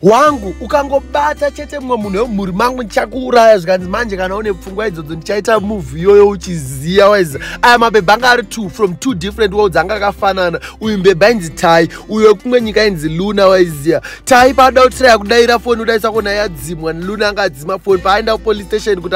wangu ukangobata chete mumwe munhu wemumhuri mangu ndichakuuraya zvikanzi manje kana une pfungwa idzodzo ndichaita move iyoyo uchiziya waiza aya mabhebha anga ari two from two different worlds anga akafanana uyu mbebha inzi tai uyo wekumwe nyika inzi luna waiziya tai paada kutiraya kudaira foni udaisa kona yadzimwa luna anga adzima foni paaenda kupolice station kuti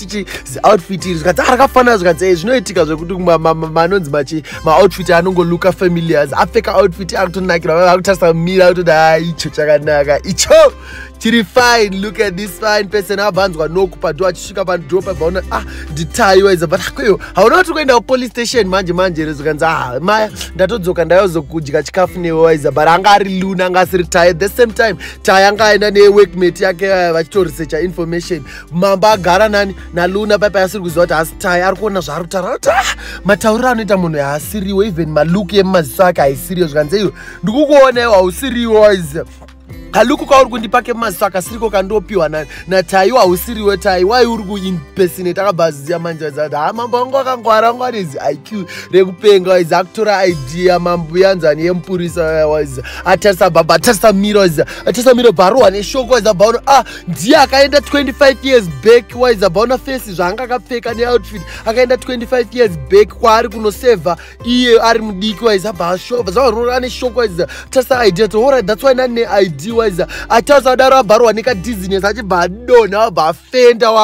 tichi outfit iri zvikati arakafanira ah, zvikati eh, zvinoitika zvekuti manonzi machi maoutfit anongoluka familiars apfeka outfit akutonakira vava vakutarisa mira akutoda ah, icho chakanaka icho chiri fine look at this fine person abva anzwa noku padho achisvika padho pabva ona ah nditayiwa iza but akweyo hauna kuti kuenda kupolice station manje manje rezo kanzi ah maya ndatodzoka ndayozokudya chikafu newe waiza but anga ari luna anga asiri taye the same time taye anga aenda neworkmate yake eh, vachitoresecha information mambo agara nani naluna paipa asiri kuziva kuti hasitai ari kuona zvaari kutaura kuti ah, matauriro anoita munhu haasiriwo even maluki emumaziso ake haisiriyo zvikanzi iyo ndikukuona iwo hausiriwo kaluku kauri kundipa kemaziso akasiriko kandopiwa nataiwo hausiriwo tai wai uri kuimpesinate akabva aziya manje aizati ha ah, mambo vangu akangwara vangu ane zi iq rekupenga waizi akutora idea mambo yanzani yemupurisa waizi atarisa baba atarisa miro waizi atarisa miro bharohwa neshoko waizi abhaona ah ndiye akaenda 25 years back waizabaona face zvaanga akapfeka neoutfit akaenda 25 years back kwaari kunosevha iye ari mudiki waizabva ashova zvavarora ane shoko waiza tasa idea to horit thats why nane id waiza atasa adaro abvarwa nekadizinesi achibva adonha abva afenda wangu